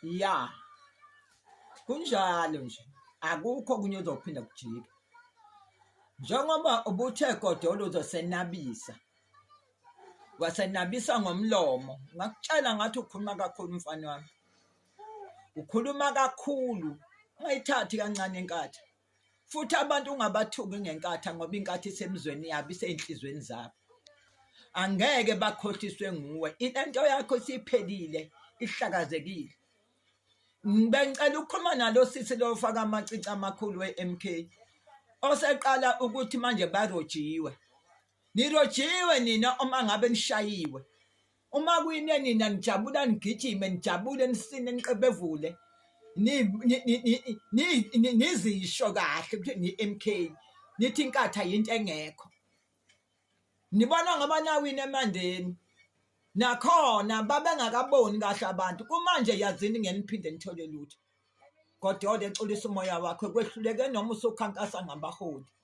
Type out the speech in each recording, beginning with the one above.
ya kunjalo nje akukho okunye uzophinda kujike njengoba ubuthe godolo uzosenabisa wasenabisa ngomlomo ngakutshela ngathi ukhuluma kakhulu mfana wami ukhuluma kakhulu ungayithathi kancane inkatha futhi abantu ungabathuki ngenkatha ngoba inkatha isemzweni yabo isenhlizweni zabo angeke bakhohliswe nguwe into yakho siphelile ihlakazekile bengicela ukukhuluma nalo sisi lo faka amacici amakhulu we-MK oseqala ukuthi manje barojiwe Nirojiwe nina uma ngabe nishayiwe. Uma kwine nina nijabula nigijime nijabule nisine niqebevule. Ni ni- ni- ni- ni- ni- nizisho kahle ukuthi ni MK. Nithi inkatha yinto engekho. Nibona ngoba nawini emandeni. Nakhona babengakaboni kahle abantu. Kumanje yazini ngeniphinde nithole lutho. Godode xolisa umoya wakho kwehluleke noma usukhankasa ngabaholi.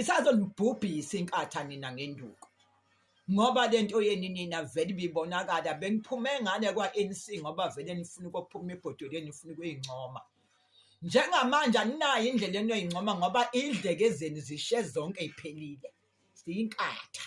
isazonibhubhisa inkatha nina ngenduku ngoba lento yeni nina vele bibonakala beniphume ngane kwa-ANC ngoba vele nifuna ukuphuma ebhodoleni nifuna ukuyincoma njengamanje aninayo indlela enoyincoma ngoba idleke zenu zishe zonke iphelile ziyinkatha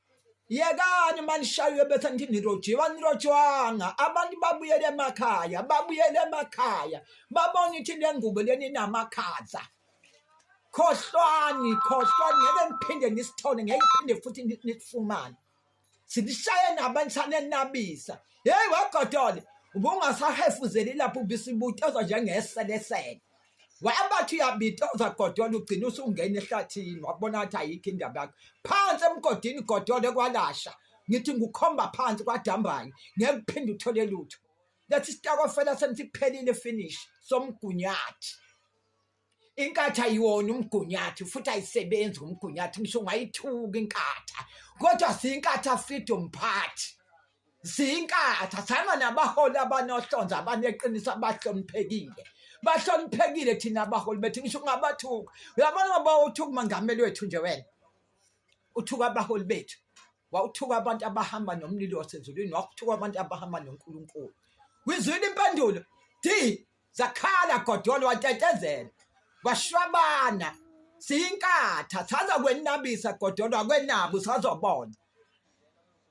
yekani manishaywe betha ngithi nirojiwe anirojwanga abantu babuyele emakhaya babuyele emakhaya babona ithi le ngubo leni inamakhaza khohlwani khohlwani ngeke ngiphinde nisithole ngeke ngiphinde futhi nisifumane silishaye nabantu sanenabisa yeyi wagodole ubungasahefuzeli lapho ubisibutezwa njengeselesele wabathi uyabitoza godola ugcina usungena ehlathini wabona ukuthi ayikho indaba yakho phansi emgodini godola ekwalasha ngithi ngukhomba phansi kwadambanye ngeke uphinde uthole lutho lethi sitakofela senisiphelile finish somgunyathi inkatha yiwona umgunyathi futhi ayisebenzi ngomgunyathi ngisho ungayithuka inkatha kodwa siyinkatha freedom party ziyinkatha fana nabaholi abanohlonzo abaneqiniso abahloniphekile bahloniphekile thina abaholi bethu ngisho ungabathuka uyabona ngoba uthuka umangameli wethu nje wena uthuka abaholi bethu wawuthuka abantu abahamba nomlilo wasezulwini wakuthuka abantu abahamba nonkulunkulu wizwile impendulo d zakhala godolo watetezela washwabana siyinkatha saza kwenabisa godolo akwenabi usazobona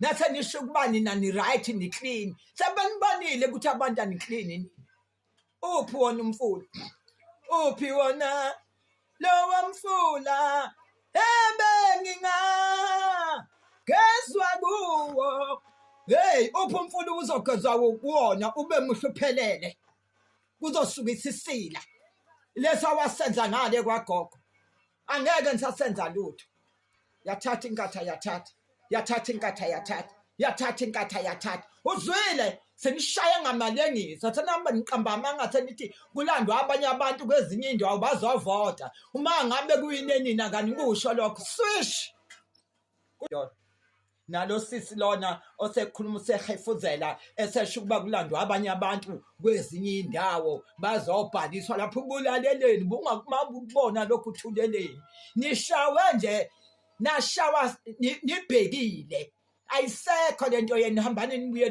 nase nisho ukuba nina ni-right ni-clean sebenibonile ukuthi abantu ani-clean uphi wona umfula uphi wona lowa mfula ebenginga gezwa kuwo heyi uphi umfula ubuzogezwa kuwona ube muhle uphelele kuzosuka isisila lesi awasenza ngale kwagogo angeke ngisasenza lutho yathatha inkatha yathatha yathatha inkatha yathatha yathatha inkatha yathatha uzwile senishaya ngamali engiza senihamba niqamba amanga senithi kulandwa abanye abantu kwezinye indawo bazovota uma ngabe kuyinenina kanikusho lokho swish nalo sisi lona osekhuluma usehefuzela esesho ukuba kulandwa abanye abantu kwezinye indawo bazobhaliswa lapho ubulaleleni bungakumabukubona lokhu thuleleni nishawe nje nashawa nibhekile ayisekho lento yenu hambani nibuye